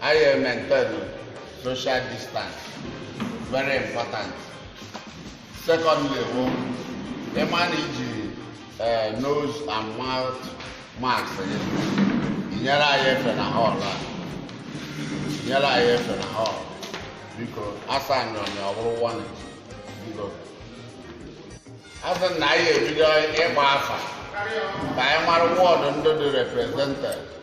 anyị maintain social distance very important secondly bụ ịma na iji eh, nose and mouth mask gị inyere anyị efe na hall a inyere anyị efe na hall biko asa nrọnya ọ bụrụ one biko asị na anyị ebido ịgba afa ka anyị mara ward ndị dị represented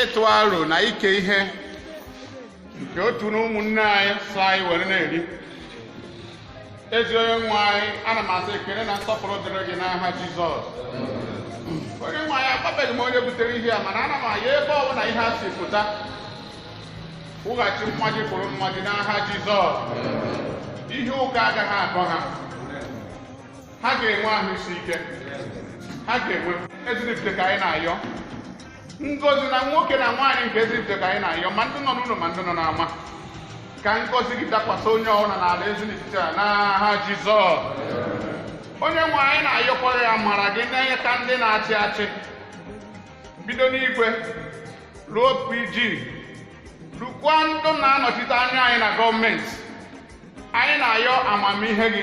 ịtụ aro na ike ihe nke otu na ụmụnne anyị sị anyị were na-eri ezi onye nwe anyị ana m asị ekene na nsọpụrụ dịrị gị n'aha jizọs onye nwe anyị agwabeghị m onye butere ihe a mana ana m ayọ ebe ọ bụla ihe a si pụta kwụghachi mmaji kwuru mmaji n'aha jizọs ihe ụkọ agaghị akọ ha ha ga-enwe ahụ isi ike ha ga-enwe eziripụta ka anyị na-ayọ ngọzi na nwoke na nwaanyị nke ezinifite ka anyị na-ayọ ma ndị nọ n'ụlọ ma ndị nọ n'ama ka ngọzi gị dakwasị onye ọbụla n'ala ezinifite a n'aha jizọs onye nwe anyị na-ayọkwa gị amara gị na inyeaka ndị na-achị achị bido n'igwe luo pg lukwa ndụ na-anọchite anya anyị na gọọmenti anyị na-ayọ amamihe gị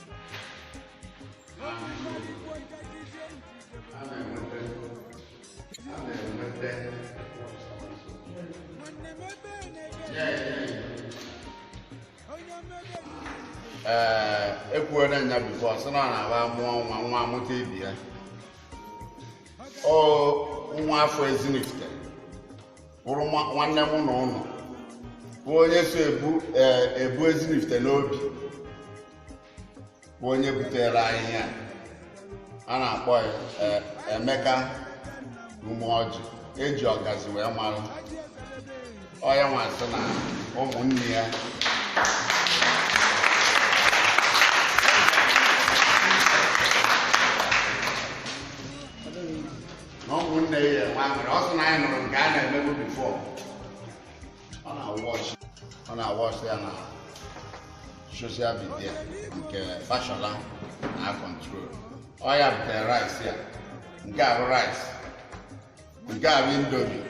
ee ekwuola nya before sị na ọ na-abụ a mụọ nwa nwa amụta ibe ya ọ nwa afọ ezinifite bụrụ nwa- nwanne mụ na ụnụ bụ onye so ebu ee, ebu ezinifite n'obi bụ onye butere anyị ihe a. a na-akpọ ya, ee, emeka umeọjị eji ọgazi wee mara ọ ya nwa sị na ụmụnne ya na ụmụnne ya enwe aṅụrị ọ sị na anyị nụrụ nke a na-emebu before ọ na-awatch ọ na-awatch ya na social media nke fashola na-acontrol ọ ya butere rice ya nke ahụ rice nke ahụ indomie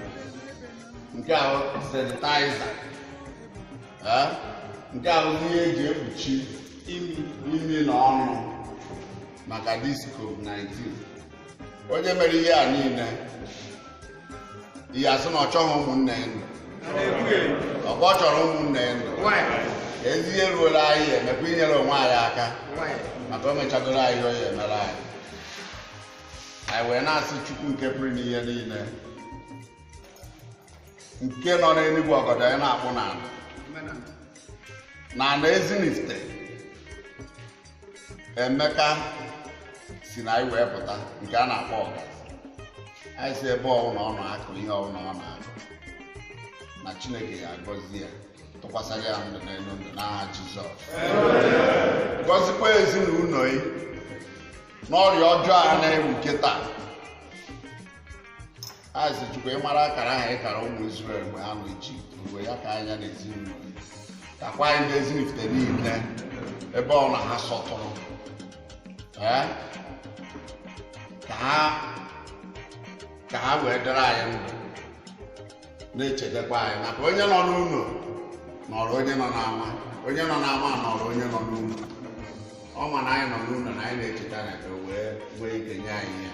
nke ahụ sanitizer eh? nke ahụ ihe eji ekpuchi imi na ọnụ maka this covid-19 onye mere ihe a niile ị ya-asị na ọ chọghị ụmụnne ya ndụ ọkwa ọ chọrọ ụmụnne ya ndụ ezi ihe ruola anyị emekwa inyere onwe anyị aka maka o mechagoro anyị ihe o ya emere anyị anyị wee na-asị chukwu nke pụrụ ime ihe niile nke nọ n'enu igwe ọgọdọ ya na-akpụ n'ala na ala ezinifite emeka si na anyị wee pụta nke a na-akpọ ọgazi anyị sị ebe ọbụla ọ nọ akụ ihe ọbụla ọ na-akụ na chineke ga-agọzi ya tụkwasịrị ya ndụ n'elu ndụ n'aha jizọs gọzikwa ezinụlọ ya n'ọrịa ọjọọ a na-ewu kịta asị Chukwu ị mara akara ahụ ị kara ụmụ Izrel mgbe ha nọ Ijipt were ya kanye ya na ezinụlọ ya kakwa anyị na ezinifite niile ebe ọ na ha sọtụrụ ee ka ha ka ha wee dịrị anyị ndụ na-echedekwa anyị maka onye nọ n'ụlọ nọrọ onye nọ n'ama onye nọ n'ama nọrọ onye nọ n'ụlọ ọ ma na anyị nọ n'ụlọ na anyị na-echeta na ka o wee nwee ike nye anyị ya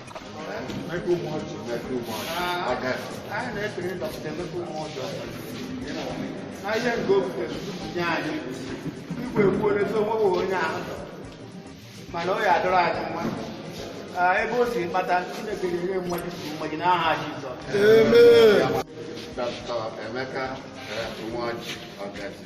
mana ọ ya adịrị anyị mma ebe o si kpata Chineke ga-enye mmadụ mmadụ n'aha Jizọs Dr. Emeka Nwaji Ọgazi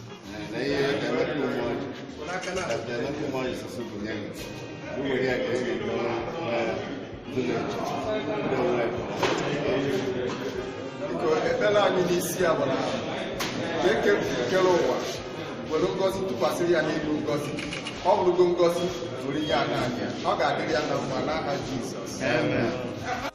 ekpere anyị n'isi ya bụ na eke kere ụwa were ngozi tụkwasịrị ya n'elu ngozi ọ bụrụgo ngozi were ihe a na-anya ọ ga-adịrị ya na mma n'aha Jizọs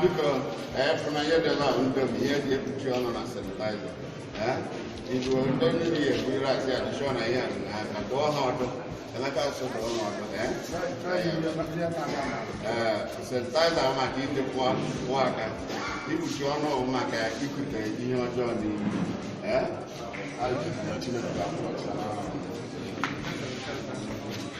biko efụna ihe dị n'ahụ ndomi ihe ji ekpuchi ọnụ na sanitaiza ibu ndị mmiri ya eburiri asị ya dịchọ na ihe na aka dụọ ha ọdụ emeka asụ dụọ ha ọdụ sanitaiza maka iji pụọ pụọ aka ikpuchi ọnụ ọgwụ maka ikute ihe ọjọọ n'ihu ee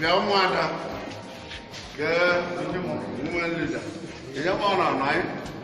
bịa ụmụada kee ndị nwa nleda enye m ọrụ anọ anyị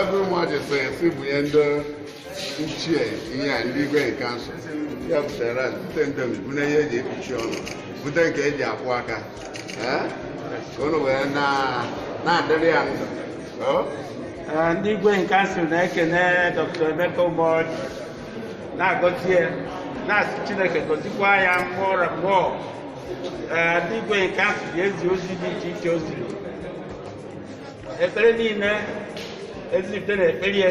ebe umeọjị so ya si bụ ya ndị ichie ihe a ndị igwe in council ya butere bute indomie na ihe eji ekpuchi ọnụ bute nke eji akwọ aka Eh? unu wee na- na-adịrị ya ndụ Oh? Ee, ndị igwe in council na-ekene dr emeka umeọjị na-agọzi ya na-asị chineke gọzikwa ya mmụọ ra mmụọ Ee, ndị igwe in council ji ezi ozi dị iche iche o ziri ekpere niile ezinifte na-ekpere ya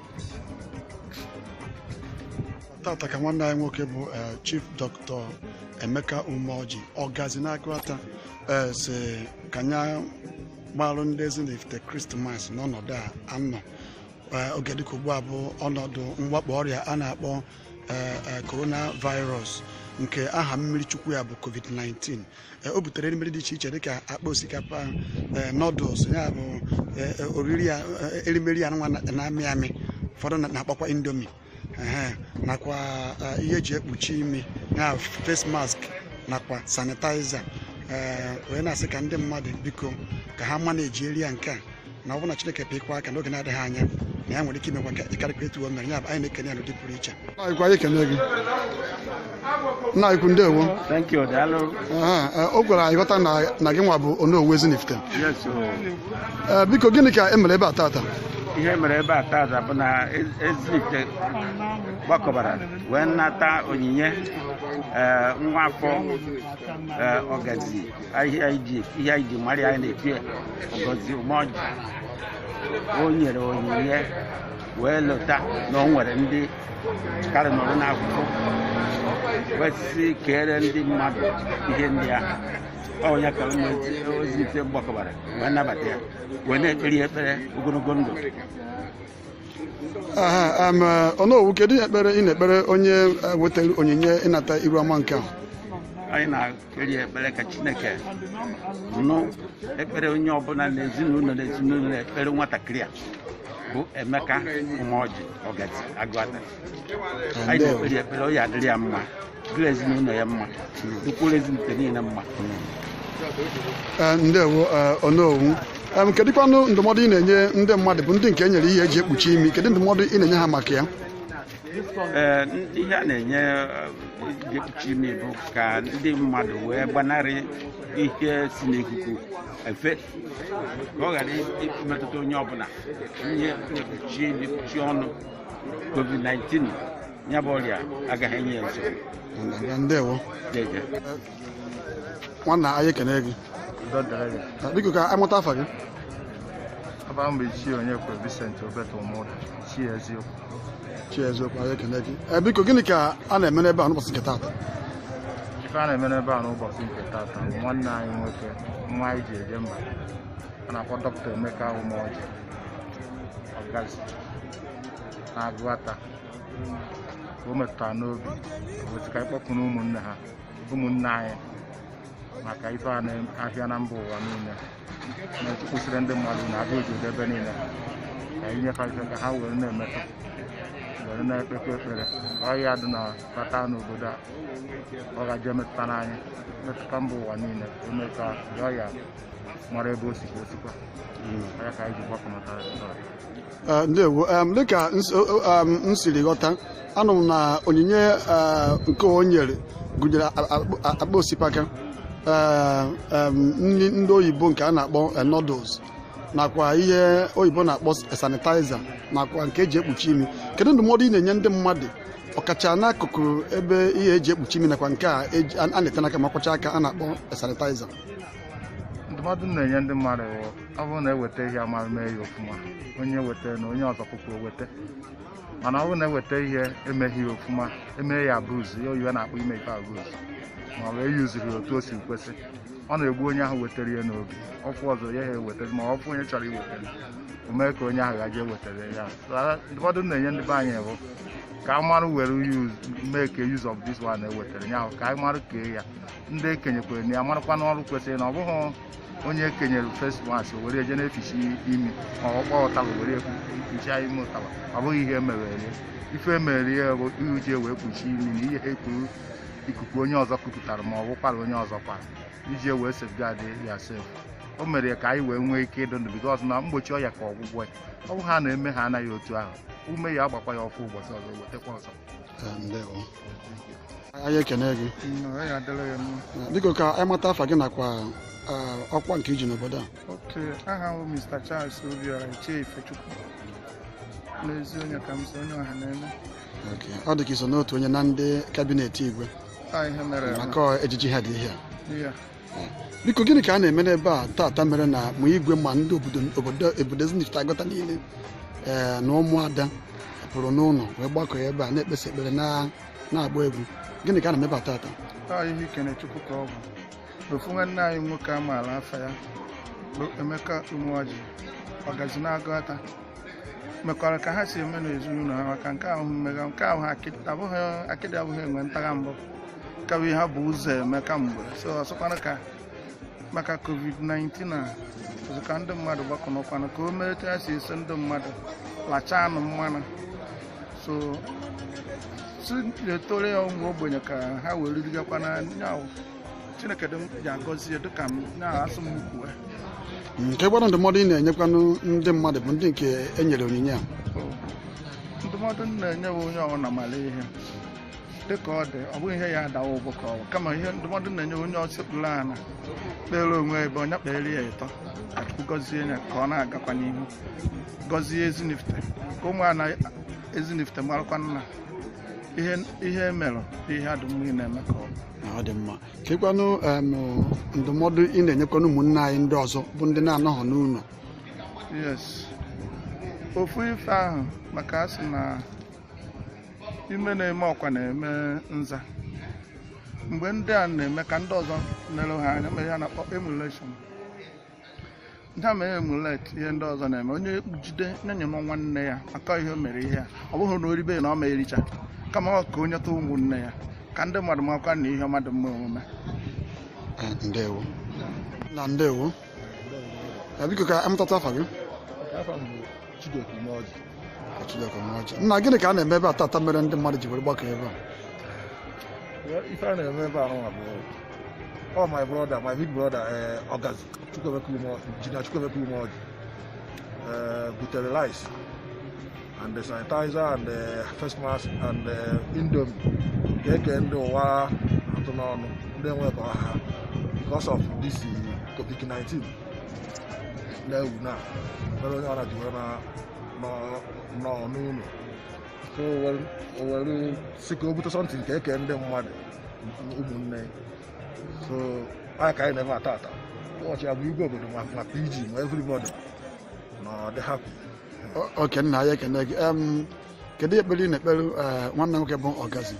tata ka nwanne anyị nwoke bụ eh, chief dr emeka umeoji ọgazi n'aguata eh, sị ka nya gbalụ ndị ezinifte krismas n'ọnọdụ a anọ Eh, oge dịka ugbu a bụ ọnọdụ mwakpo ọrịa a na-akpọ eh, eh, coronavirus nke aha mmiri chukwu ya bụ covid-19 o butere erimeri dị iche iche dịka akpa osikapa noodles ya bụ oriri ya erimeri a nwa na-amị amị ụfọdụ na-akpọkwa indomie nakwa ihe eji ekpuchi imi ya face mask nakwa sanitizer wee na-asị ka ndị mmadụ biko ka ha ma na-ejiri ya nke a na ọ bụrụ na Chineke pịkwa aka n'oge na-adịghị anya na ya nwere ike imekwa karịkwa etu o mere ya bụ anyị na-ekene ya n'ụdị pụrụ iche Ikwu anyị ekene gị nna ukwu ndewo Thank you, Daalụ. Aha, eh, o kwere anyị ghọta na na gị nwa bụ onowu ezinifte Yes, o. Eh, biko gịnị ka e mere ebe a tata ihe mere ebe a tata bụ na Ez- ezinifte gbakọbara wee nata onyinye eh, nwa afọ eh, ọgazi ihe anyị ji ihe anyị ji mara ya anyị na-etu ya ọgazi Umeọjị o nyere onyinye wee lota na o nwere ndị karị nọrọ n'akụkụ wee sị kere ndị mmadụ ihe ndị ahụ ọ bụ ya ka ụmụ ezinifte gbakọbara wee nabata ya wee na-ekpere ya ekpere ogologo ndụ Aha, em, eh, Onowu kedu ihe ekpere ị na-ekpere onye eh, wetara onyinye ịnata iru ọma nke ahụ anyị na kpere ya ekpere ka chineke nụ ekpere onye ọbụla na ezinụlọ na ezinụlọ ekpere nwatakịrị a bụ emeka umeọjị ọgazi aguata anyị na-ekpere ya ekpere ọ ya adịrị ya mma dịrị ezinụlọ ya mma dịkwuru ezinifte niile mma Ee, ndewo ee, onowu Em, kedụkwanụ ndụmọdụ ị na-enye ndị mmadụ bụ ndị nke e nyere ihe eji ekpuchi imi kedụ ndụmọdụ ị na-enye ha maka ya Ee, n- ihe a na-enye eji ekpuchi imi bụ ka ndị mmadụ wee gbanarị ihe si n'ikuku efe ka ọ ghara imetụta onye ọbụla ihe na-ekpuchi imi kpuchie ọnụ covid-19 ya bụ ọrịa agaghị enye ya nsogbu Ndewo. Jeje. nwanna anyị ekene gị biko ka a mata afa gị abụ m ichie onyekwe Vincent Obeto Ụmụda ichie eziokwu ichie eziokwu anyị ekene gị eh, biko gịnị ka a na-eme n'ebe a n'ụbọchị nke taata ife a na-eme n'ebe a n'ụbọchị nke taata nwanne anyị nwoke nwa anyị ji eje mba a na-akpọ dọkịta Emeka Umeoji ọgazi n'Agụata o metụtara n'obi o wee tụ ka a kpọkọọ ụmụnne ha ụmụnne anyị maka ife a na-afịa na mba ụwa niile na-ekwusịrị ndị mmadụ na abịa obodo ebe niile ka e nye fa ife ka ha were na-emetụ were na-ekpekwa ekpere ọya adịna abata n'obodo a ọ gaje metụta n'anyị metụta mba ụwa niile eme ka ọya mara ebe o sikwa osikwa ya ka anyị ji gbapụ maka ya Eh, ndewo dịka m siri ghọta anụ m na onyinye eh, nke o nyere gụnyere akpa osikapa eh, nri ndị oyibo nke a na-akpọ noodles nakwa ihe oyibo na-akpọ sanitizer nakwa nke eji ekpuchi imi kedu ndụmọdụ ị na-enye ndị mmadụ ọkacha n'akụkụ ebe ihe eji ekpuchi imi nakwa nke a a na-ete n'aka ma a kwachaa aka a na-akpọ sanitizer ndụmọdụ ị na-enye ndị mmadụ ọ bụrụ na eweta ihe a mara mee ya ofuma onye weta na onye ọzọ pụpụ eweta mana ọ bụrụ na eweta ihe emeghị ya ofuma emee ya abuse ya oyibo na-akpọ ime ife abuse ma ọ bụ eyuziri otu o si kwesị ọ na-egbu onye ahụ wetara ya n'obi ọ fụ ọzọ ya ha eweta ma ọ fụ onye chọrọ iwetara o mee ka onye ahụ gaje wetara ya ndụmọdụ m na-enye ndị be anyị bụ ka a mara were mee ka use of this one ewetara ya ahụ ka a mara kee ya ndị ekenyekwere na ya marakwa n'ọrụ kwesịrị na ọ bụghị onye kenyere face mask were eje na-eficha imi ma ọ kpọọ ụtaba were kpuchie imi ụtaba ọ bụghị ihe e mere ya ife emere ya bụ iji wee kpuchie imi na ihe ekuru ikuku onye ọzọ kupụtara ma ọ bụ ụkwara onye ọzọ kwara iji wee safeguard yourself o mere ya ka anyị wee nwee ike ịdụ ndụ because na mgbochi ọya ka ọgwụgwọ ya ọ bụ ha na-eme ha anaghị otu ahụ ume ya agbakwa ya ọfụ ụbọchị ọzọ wetakwa ọzọ anyị ekene gị biko ka anyị mata afa gị nakwa ọkwa nke i ji n'obodo a ok aha m bụ mr charles obiora ichie ifechukwu n'ezi onye ka m so onye ọha na-eme ọ dị ka i so n'otu onye na ndị kabinet igwe maka ejiji ha dị ihe a biko gịnị ka a na-eme n'ebe a tata mere na ma igwe ma ndị obodo obodo obodo ezinifite agụata niile ee na ụmụada pụrụ n'ụlọ wee gbakọ ya ebe a na-ekpesi ekpere na- na-agba egwu gịnị ka a na-eme ebe a tata anyị na-ekene chukwu ka ọ bụ ofu nwanne anyị nwoke a maala afa ya bụ emeka umeọjị ọgazi n'agụata mekwara ka ha si eme n'ezinụlọ ha maka nke ahụ mmega nke ahụ akịdị abụghị akịdị abụghị enwe ntagha mbụ ka bụ ihe ha bu ụzọ eme kamgbe so ọ sịkwanụ ka maka covid-19 a ọzọ ka ndị mmadụ gbakọnọkwana ka o mee etu ha si eso ndị mmadụ lachaa anụ mmanụ so si etore ya ụmụ ogbenye ka ha wee ririgakwana nya bụ chineke dị m ji agọzi ya dịka m nya asụ m kwue nke gbara ndụmọdụ ị na-enyekwanụ ndị mmadụ bụ ndị nke e nyere onyinye a ndụmọdụ m na-enye bụ onye ọbụla mara ihe dịka ọ dị ọ bụghị ihe ya adawa ụgbọ ka ọwa kama ihe ndụmọdụ m na-enye onye ọsịkpụrụ ana kpeere onwe ebe nya kpeere ya ịtọ ka Chukwu gọzie ya ka ọ na-agakwa n'ihu gọzie ezinifite ka ụmụ ana ezinifite marakwa na ihe o mere bụ ihe dị mma ị na-eme ka ọ bụ na ọ dị mma kekwanụ em, ndụmọdụ ị na-enyekwanụ ụmụnne anyị ndị ọzọ bụ ndị na-anọghọ n'ụlọ yes ofu ife ahụ maka a sị na ime na-eme ọkwa na-eme nza mgbe ndị a na-eme ka ndị ọzọ na-ele ha anya mee ihe a na-akpọ emulation ndị a mere emulate ihe ndị ọzọ na-eme onye jide nyenye nwa nwanne ya maka ihe o mere ihe a ọ bụghị na o ribe na ọ ma-ericha kama ọ ka o nyetụọ ụmụnne ya ka ndị mmadụ makwa na ihe ọma dị mma omume ndewo nna ndewo biko ka a mata afa gị nna gịnị ka a na-eme ebe a tata mere ndị mmadụ ji were gbakọ ebe a ife a na-eme ebe ahụ bụ ọ my brother my big brother ọgazi engineer chukwuemeka umeọjị butere rice and the sanitizer and the face mask and the indomie ga-eke ndị ụwa atụ n'ọnụ ndị enwe ka ọ ha because of this covid-19 na-ewu na mere onye ọra ji were na nọ- nọ n'ụlọ so o were- o were sị ka o bute something nke eke ndị mmadụ ụmụnne so nya ka anyị na-eme tata ụbọchị ya bụ igwe obodo ma ma pg ma everybody na-adị happy O- okay nna anyị ekene gị Em, kedu ekpere ị na-ekpere eh, nwanne nwoke bụ ọgazi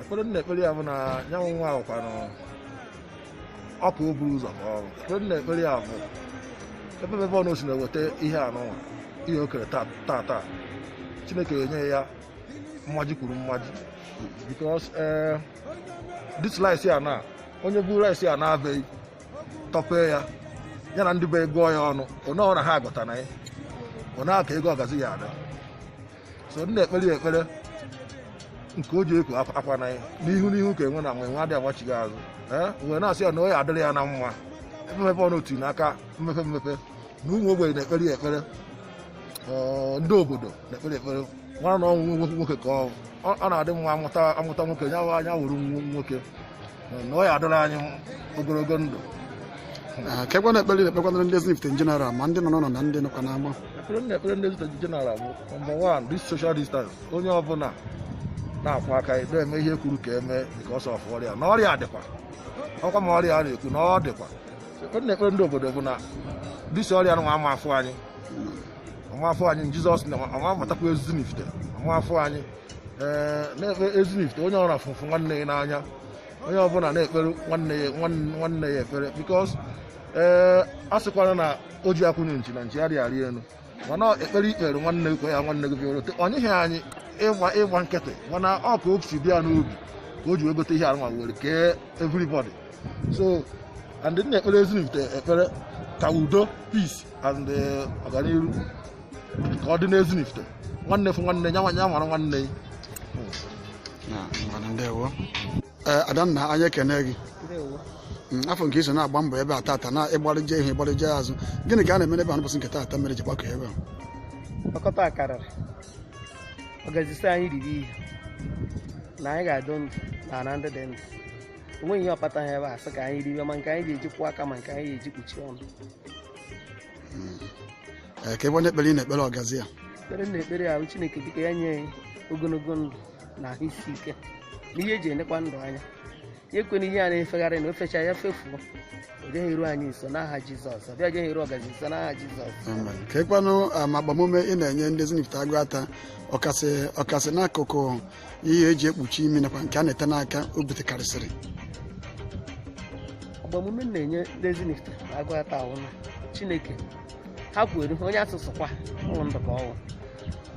ekpere m na-ekpere ya bụ na nya bụ nwa ahụkwanụ ọ ka o buru ụzọ ka ọrụ ekpere m na-ekpere ya bụ ebe ebe ọbụna o si na-eweta ihe a nụwa ihe o kere taa taa chineke enye ya mmaji kwuru mmaji because eh, this rice a na onye bu rice a naa be ya tọpee ya ya na ndị be ya gụọ ya ọnụ one one ha agụta na ya ọ na aka ego ọgazi ya ada so m na-ekpere ya ekpere nke o ji eku akwa- akwa na ya n'ihu n'ihu ka enwe na enwe adị agbachigha azụ e wee na-asị ya na ọ ya adịrị ya na mma mmepe ọnụ otu n'aka mmepe mmepe na ụmụ ogbenye na-ekpere ya ekpere Ọ, ndị obodo na-ekpere ekpere nwa na ọ wụ nwoke nwoke ka ọ ọ na-adị mma amụta amụta nwoke ya wa anya wụrụ nwo- nwoke na ọ ya adịrị anyị ogologo ndụ Ah, kekwanụ ekpere ị na-ekpekwanara ndị Ezinifite in general ma ndị nọ n'ụlọ na ndị nọkwa n'ama ekpere m na-ekpere ndị Ezinifite general bụ number one this social distance onye ọbụla na-akwọ aka ya na-eme ihe e kwuru ka eme dịka ọsọ ọfụ ọrịa na ọrịa dịkwa ọkwa ma ọrịa a na-ekwu na ọ dịkwa ekpere m na-ekpere ndị obodo bụ na this ọrịa nwa ama afụ anyị ọ ma afụ anyị jizọs na ọ ma amatakwa Ezinifite ọ ma afụ anyị ee na-ekpere Ezinifite onye ọbụna fụ fụ nwanne ya n'anya onye ọbụla na-ekpere nwanne ya nwanne- nwanne ya ekpere because ee a sịkwara na o ji akwụnye nchi na nchi adị arị elu mana ekpere i kpeere nwanne gị kwe ya nwanne gị bịara ote ọ nyeghị anyị ịgba ịgba nkịtị mana ọ ka o si dị ya n'obi ka o ji wee gote ihe a nwa were kee everybody so and m na-ekpere Ezinifite ekpere ka udo peace and eh, ọganihu ka ọ dị n'Ezinifite nwanne fụ nwanne ya n'anya nwara nwanne ya ngwanụ ndewo ee adanna anyị ekene gị Mm, afụ m ka i so na-agba mbọ ebe a tata na ịgbarịje ihu ịgbarịje azụ gịnị ka a na-eme n'ebe a n'ụbọchị nke tata mere e ji gbakọ ebe a ọkọta akarịrị ọgazi sị anyị riri ihe na anyị ga-adị ndụ na ala ndị dị ndụ o nweghị ihe ọkpata ha ebe a sị ka anyị riwe ma nke anyị ga-eji kwọọ aka ma nke anyị ga-eji kpuchie ọnụ Ee, kekwanụ ekpere ị na-ekpere ọgazi ya ekpere m na-ekpere ya wụ chineke dịka ya nye anyị ogologo ndụ na ahụ isi ike na ihe eji enekwa ndụ anya ya ekwena ihe a na-efegharị na o fecha ya fefuo o jeghị eru anyị nso n'aha jizọs o jeghị eru ọgazi nso n'aha jizọs Amen. kekwanụ ma agbamume ị na-enye ndị Ezinifite Aguata ọkasị ọkasị n'akụkụ ihe eji ekpuchi imi nakwa nke a na-ete n'aka o butekarịsịrị agbamume m na-enye ndị Ezinifite Aguata wụ na chineke ha kweere onye asụsụ kwa ụmụ ndụ ka ọnwụ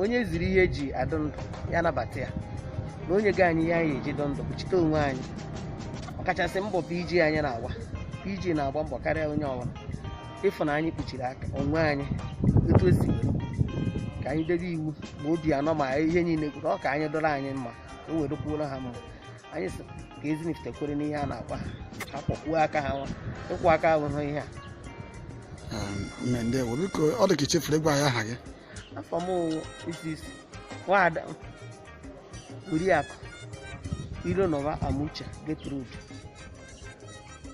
onye e ziri ihe eji adụ ndụ ya nabata ya na o nyega anyị ihe anyị eji dụ ndụ kpuchite onwe anyị ọkachasị mbọ PG anyị na-agba PG na-agba mbọ karịa onye ọbụla ịfụ na anyị kpuchiri aka onwe anyị etu esi were ka anyị debe iwu ma Obiano ma ihe niile kwuru ọ ka anyị dịrị anyị mma ka o were dịkwuoro ha mma anyị sị ka ezinifite kwere n'ihe a na-agwa ha ha kpọkwuo aka ha nwa ịkwọ aka ahụhụ ihe a mme ndewo biko ọ dị ka ichefuru ịgwa anyị aha gị afa m ọwụ isi isi nwada oriakụ ironọba amuche Gertrude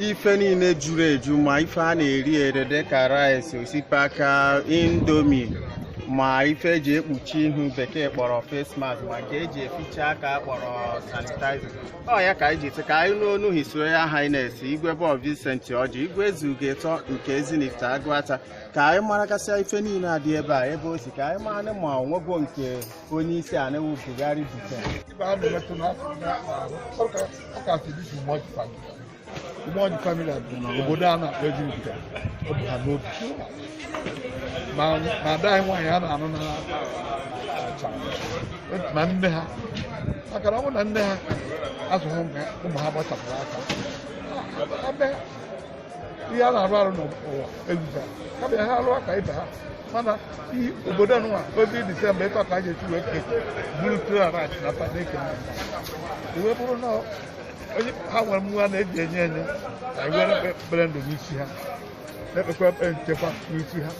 ife niile juru eju ma ife a na-eri ere dịka rice osikapa indomi ma ife eji ekpuchi ihu bekee kpọrọ face mask ma nke eji eficha aka kpọrọ sanitizer ọ ya ka anyị ji sị ka anyị nụ ọnụ His Royal Highness igwe Bob Vincent Ọjị igwe ezuga ịtọ nke Ezinifite Agụata ka anyị maragasịa ife niile a dị ebe a ebe o si ka anyị mara ma ọ nwego nke onye isi ana wụ Buhari Britain ibe a na-emetụ na ọ ka ọ ka si dị Umoji family Umoji family bụ na obodo a na-akpọ Ejiribika ọ bụ ha n'obi ma ma ada anyị nwaanyị a na-anụ na achara ma nne ha maka na ọ bụ na nne ha azụghị ụmụ ha ụmụ ha gbachapụrụ aka ebe ihe a na-arụ arụ n'ụwa ezuga kama ya ha arụ aka ibe ha mana i- obodo nwa obi disemba ịtọ ka a ga-esi wee ke buru klarat na padeke iwe bụrụ na onye ha nwere nwa na-eji enye enye na iwe ekpere ndụ n'isi ha na-ekpekwa ekpere nchekwa n'isi ha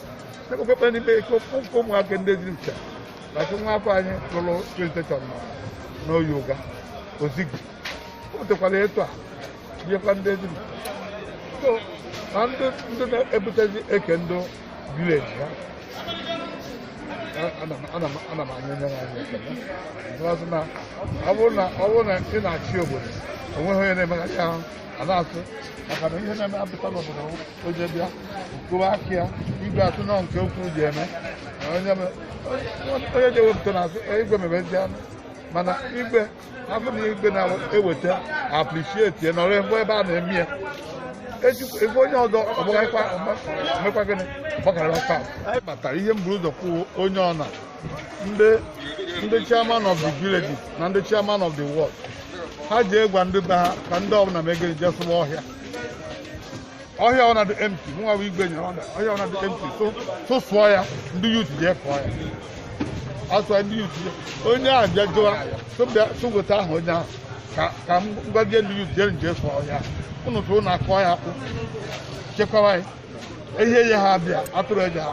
na-ekpekwa ekpere n'ime ike ụkwụ nke ụmụaka ndị dị ncha na nke nwa afọ anyị lụrụ plentation na n'oyi ụga ozigbo o butekwara etu a biekwa ndị dị ncha so na ndị ndị na-ebutezi eke ndị village ha ana m ana m ana m anya onye na-anya ekele n'azụ na ọ bụrụ na ọ bụrụ na ị na-achị obodo onweghị onye na-emeghachi ahụ a na-asụ maka na ihe na-eme apụta n'obodo oje bịa kụwa aka ya igwe atụ nọ nke ukwuu ji eme na onye me- onye ji ewepụta na igwe mebezi anụ mana igwe afọ na igwe na-eweta appreciate ya nọrọ mgbe ebe a na-eme ya ebe onye ọzọ ọgbakwa mekwa gịnị gbakara fa batara ihe m buru ụzọ kwuo onye ọna ndị ndị chairman of the village na ndị chairman of the ward ha je gwa ndị be ha ka ndị ọbụla megịrị je sụwa ọhịa ọhịa ọbụna dụ empty mụnwa bụ igwe nyere order ọhịa ọbụna dụ empty so so sụọ ya ndị youth jee sụọ ya asụọ ndị youth jee onye ahụ bịa jụwa so bịa so weta aha onye ahụ ka ka m gwazie ndị youth jere nje sụọ ọhịa ụnụ sụọ ụnụ akụọ ya akpụ chekwawa ya ihe ya ha bịa atụrụ eji ha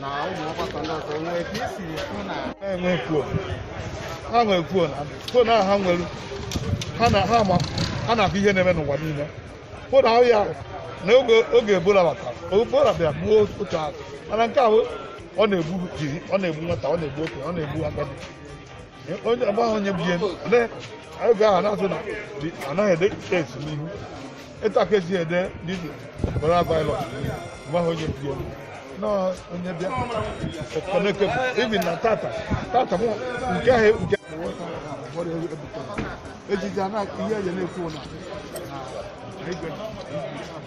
na ụmụ ọgbakọ ndị ọzọ nwee ka isi hụ na enwe kwuo ha nwee kwuo na kwuo na ha nwere ha na ha ma ha na-ahụ ihe na-eme n'ụwa niile kwuo na ahụ ya na oge oge ebola batara ebola bịara gbuo otu ahụ mana nke ahụ ọ na-egbu jiri ọ na-egbu nwata ọ na-egbu okenye ọ na-egbu agadi onye ọgba ahụ nye biye oge ahụ na-asụ na anaghị ede kes n'ihu ịta ka esi ede didi kpọrọ abaịlọ mgbe ahụ onye biye nọọ onye bịa ọkọneke ibi na tata tata mụ nke ahụ nke ejiji anaghị ihe eji na-ekwu na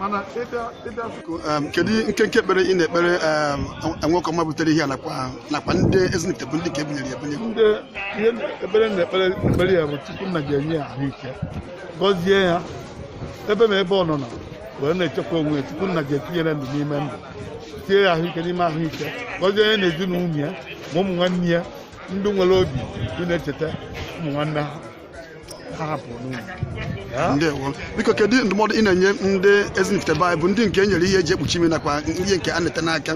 mana ịbịa ịbịa biko em, kedu nkenke ekpere ị na-ekpere em, nwoke ọma butere ihe a nakwa nakwa ndị ezinifite bụ ndị ka ebunyere ya ebunye ndị ihe ekpere m na-ekpe ekpere ya bụ chukwu nna ga-enye ya ahụike gọzie ya ebe ma ebe ọ nọ na wee na-echekwa onwe ya chukwu nna ga-etinyere ndụ n'ime ndụ tinye ya ahụike n'ime ahụike gọzie ya na ezinụlọ ya ma ụmụ nwanne ya ndị nwere obi ị na-echeta ụmụ nwanne ha ndewo biko kedu ndụmọdụ ị na-enye ndị ezinifite bụ ndị nke e nyere ihe eji ekpuchi imi nakwa ihe nke a na-ete n'aka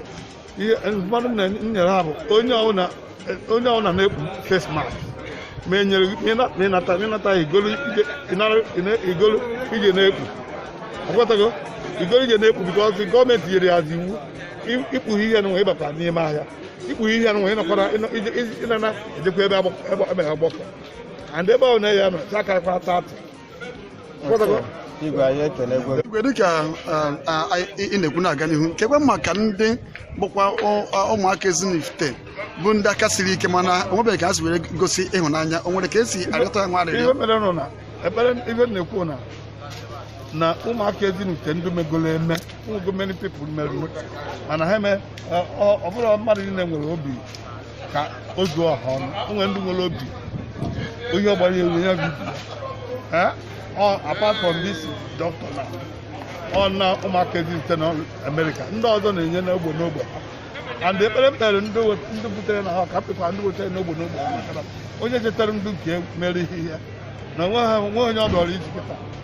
ihe ndụmọdụ m na-enyere ha bụ onye ọbụla onye ọbụla na-ekpu face mask ma e nyere ị nata ị nata i golu i je na-ekpu akwatago i golu i je na-ekpu because gọọmenti nyere ya as iwu i kpughị ihe nwa ị bata n'ime ahịa i kpughị ihe nwa ịnakwara ịnana ejekwa ebe ọgbakọ igwe dịka ị na-ekwu na-aga n'ihu kwukwa maka ndị bụkwa ụmụaka ezinifite bụ ndị aka siri ike mana o nwebeghị ka ha si were gosi ịhụnanya o nwere ka esi arịọta ya nwa arịrịọ ihe mere nụ na ebere ihe m na-ekwu na na ụmụaka ezinifite ndị megolo eme ụmụ many people mere mana ha eme ọ bụrọ mmadụ niile nwere obi ka o zuo ọha ọnụ o nwere ndị nwere obi onye ọgbara ewu ya bibi Eh? Ọ- apart from this doctor na ọ na ụmụaka ezinifite na amerịka ndị ọzọ na-enye n'ogbe n'ogbe and ekpere m kpere ndị we- ndị butere n'ọha ka m kpekwa ndị wetara n'ogbe n'ogbe ha maka na onye chetara ndị nke mere ihe ya na o nwehọ onye ọ dịrị easy kịta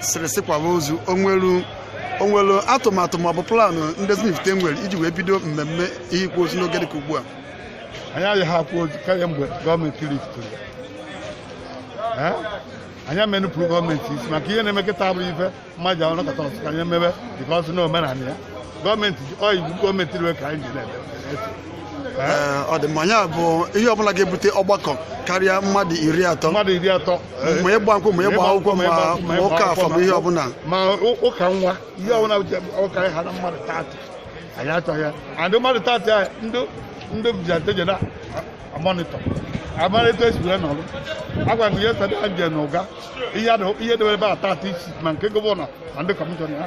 sịrị si kwaba ozu o nwere o nwere atụmatụ maọbụ plan ndị ezinifite nwere iji wee bido mmemme ihe ịkwa ozu n'oge dịka ugbu a anyị adịghị akwa ozu karịa mgbe gọọmenti liftịrị ya anyị ama nupụrụ gọọmenti isi maka ihe na-eme kịta abụrọ ife mmadụ ahụ nọkọta ọ sị ka anyị mebe dịka o si na omenala ya gọọmenti ọ iwu gọọmenti riwe ka anyị ji na-eme ọ dị mma ya bụ ihe ọbụla ga-ebute ọgbakọ karịa mmadụ iri atọ mmadụ iri atọ ma ịgba nkwụ ma ịgba akwụkwọ ma ụka afọ ma ihe ọbụla ma ụka nwa ihe ọbụla ụka ha na mmadụ thirty anyị achọghị ya and mmadụ thirty a ndị ndị vigilante je na-amonitọ amonitọ esibire n'ọrụ agwa gị ihe sada je na ụga ihe debere ebe a thirty isi ma nke gọvanọ na ndị kọmishọna ya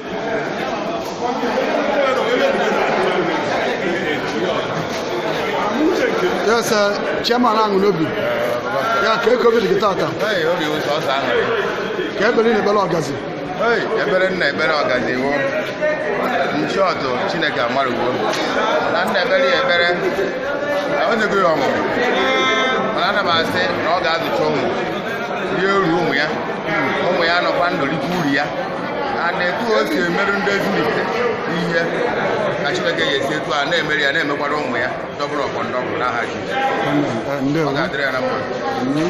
ya sị chairman aṅụ n'obi ya kee ka obi dị gị taata Hey, obi wụ sọsọ aṅụrị. kee ekpere ị na-ekpere ọgazi Hey, ekpere m na-ekpere ọgazi wo in short chineke amarugo na m na-ekpere ya ekpere na o nyego ya ọmụmụ mana ana m asị na ọ ga-azụcha ụmụ rie uru ụmụ ya ụmụ ya nọkwa ndụ rite uru ya a na etu o si emere ndị ezinifite ihe ka Chineke ya esi etu a na-emere ya na-emekwara ụmụ ya double upon double n'aha Jizọs ọ ndewo ga-adịrị ya na mma Mhm.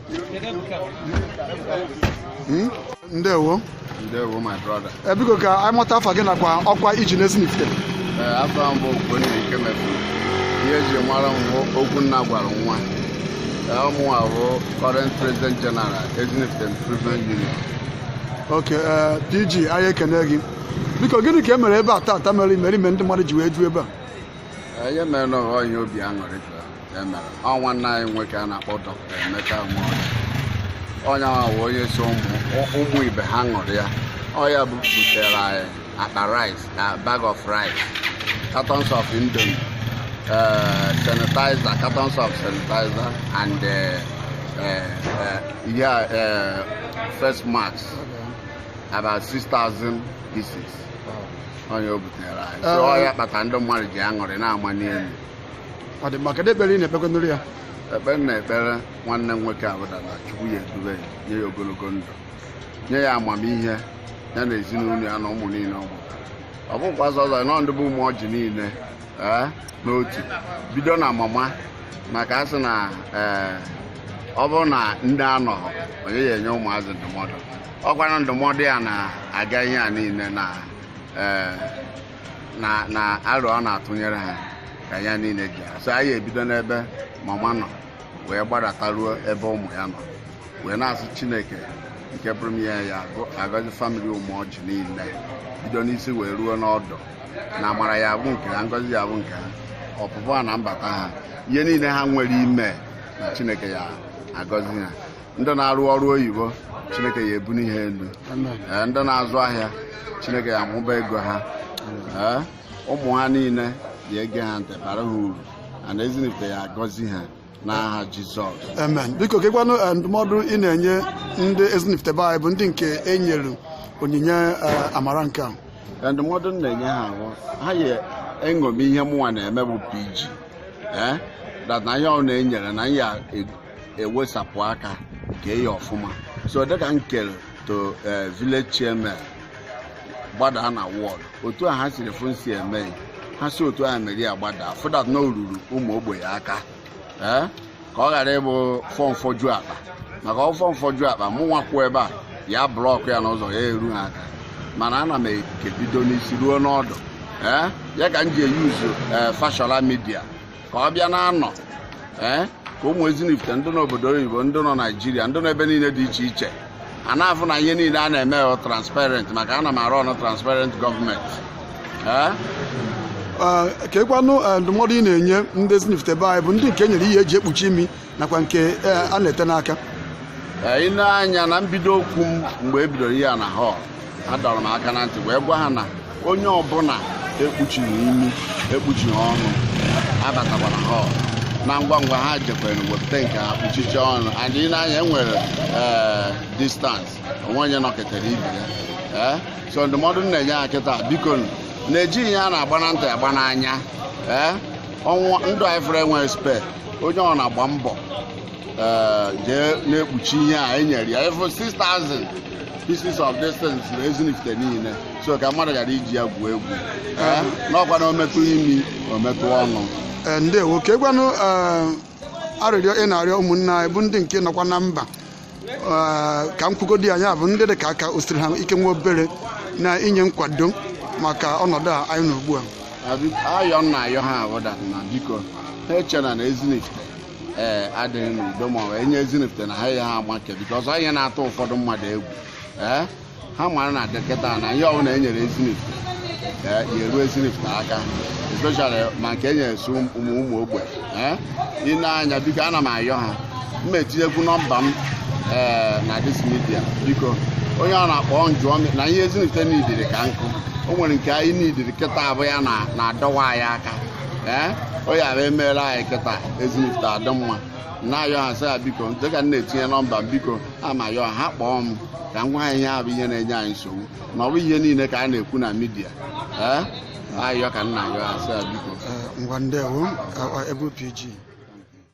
Hmm? ndewo ndewo my brother eh, biko ka anyị mata afa gị nakwa ọkwa i ji n'ezinifite eh, afa m bụ Ogbonna Ikemefuna ihe eji mara m wụ okwu nna gwara nwa eh, mụnwa bụ current president general ezinifite improvement union ok pg anyị ekene gị biko gịnị ka e mere ebe a taata mere imerime ndị mmadụ ji wee ju ebe a ihe mere na ọ wụ ihe obi aṅụrị emere ọ nwanne anyị nwoke a na-akpọ dọkịta Emeka Nwaọcha onye ahụ bụ onye si ụmụ ibe ha ṅụrụ ya ọ ya butere anyị akpa rice na bag of rice cartons of indomie eh, sanitizer cartons of sanitizer and eh, eh, yeah, face mask about 6,000 pieces ọ ihe o butere anyị so ọ ya kpata ndị mmadụ ji aṅụrị na-amani elu ọ dị mma kedu ekpere ị na-ekpekwanụrụ ya ekpere m na-ekpere nwanne m nwoke ahụ bụ na chukwu ya edube ya nye ya ogologo ndụ nye ya amamihe ya na ezinụlọ ya na ụmụ niile ọ mụtara ọ bụkwa ọzọ ezinụlọ ndị bụ ụmụ ọjị niile ee n'otu bido na mama maka a sị na ee ọ bụrụ na nne anọhọ onye ya-enye ụmụazị ndụmọdụ ọ kwanụ ndụmọdụ ya na-aga ihe a niile na ee na na aro ọ na-atụnyere ha ka ya niile ji so anyị ebido n'ebe mama nọ wee gbadataruo ebe ụmụ ya nọ wee na-asị chineke nke pụrụ ime ihe ya agọzi famili ụmụọjị niile bido n'isi wee ruo n'ọdụ na amara ya bụ nke ha ngọzi ya bụ nke ha ọpụpụ ha na mbata ha ihe niile ha nwere ime na chineke ya agọzi ha ndị na-arụ ọrụ oyibo chineke ya ebuni ha elu Ee, ndị na-azụ ahịa chineke ya amụba ego ha Ee, ụmụ ha niile ya ege ha ntị bara ha uru ana ezinifite ya agọzi ha n'aha jizọs amen biko kekwanụ eh, ndụmọdụ ị na-enye ndị ezinifite be anyị bụ ndị nke e nyere onyinye eh, amara nke a Ee, ndụmọdụ m na-enye ha bụ ha ya eṅomi ihe mụnwa na-eme bụ pg ee that na ihe ọbụna e nyere na ya ewesapụ aka kee ya ọfụma so dịka m kere to eh, village chairman gbadaa na ward otu a ha siri fụ m si eme ya, ha si otu ahụ mere ya gbadaa fụ that na o ruru ụmụ ogbenye aka ee ka ọ ghara ịbụ fọ mfọju akpa maka ọfọ mfọju akpa mụnwa kwụ ebe a ya block ya n'ụzọ ya eru ha aka mana ana m eke bido n'isi ruo n'ọdụ ee ya ka m ji eyuzu ee social media ka ọ bịa na-anọ ee eh, ka ụmụ ezinifite ndị n'obodo oyibo ndị nọ naijiria ndị nọ ebe niile dị iche iche a na-afụ na ihe niile a na-eme ọ transparent maka ana m a run transparent government eh? Ah, kekwanụ eh, ndụmọdụ ị na-enye ndị ezinifite be anyị bụ ndị nke e nyere ihe eji ekpuchi imi nakwa nke eh, a na-ete n'aka Ee, ị nee anya na mbido okwu m mgbe e bidoro ihe a na hall adọrọ m aka na ntị wee gwa ha na onye ọbụla ekpuchighị imi ekpuchighị ọnụ abatakwana hall na ngwa ngwa ha jekwere wepụta nke ha kpuchicha ọnụ and ị nee anya enwere ee distance o nwe onye nọketere ibe ya ee so ndụmọdụ m na-enye ha kịta biko nụ, na ejighị ihe a na-agba na ntị agba n'anya ee ọnwụ ndụ a ị fụrụ enweghị spare onye ọbụna gba mbọ eh, jee na-ekpuchi ihe anyị nyere ya efu 6000 pieces of distance na ezinifite niile so ka mmadụ ghara iji ya gwuo egwu Eh, na ọ kwa na o metụ imi o metụ ọnụ Ee, ndewo kekwanụ arịrịọ ị na-arịọ ụmụnne anyị bụ ndị nke nọkwa na mba Ee, ka m kwugodi ya ya bụ ndị dị ka aka o siri ha ike nwa obere na inye nkwado maka ọnọdụ a anyị nọ ugbu a ayọ m na-ayọ ha wụ that na biko ha echena na ezinifite ee adịghị n'udo ma ọ bụ e nye ezinifite na ha ya ha amake because ọ ya na-atụ ụfọdụ mmadụ egwu ee ha mara na dị kịta na ihe ọbụla e nyere ezinifite ya eru ezinifite aka especially ma nke e nyere sị ụmụ ụmụ ogbenye ị nee anya biko ana m ayọ ha m etinyekwu nọmba m ee na this media biko onye ọbụna kpọọ m jụọ m na ihe ezinifite niidiri ka m kwuo o nwere nke anyị niidiri kịta bụ ya na-adọwa anyị aka ee ọ ya bụ e meere anyị kịta ezinifite adị mma na-ayọ ha sị ya biko dịka m na-etinye nọmba m biko ana m ayọ ha kpọọ m ka m gwa ha ihe bụ ihe na-enye anyị nsogbu na ọ bụ ihe niile ka a na-ekwu na media ee ayọ ka m na-ayọ sị biko ngwa ndewo ee pg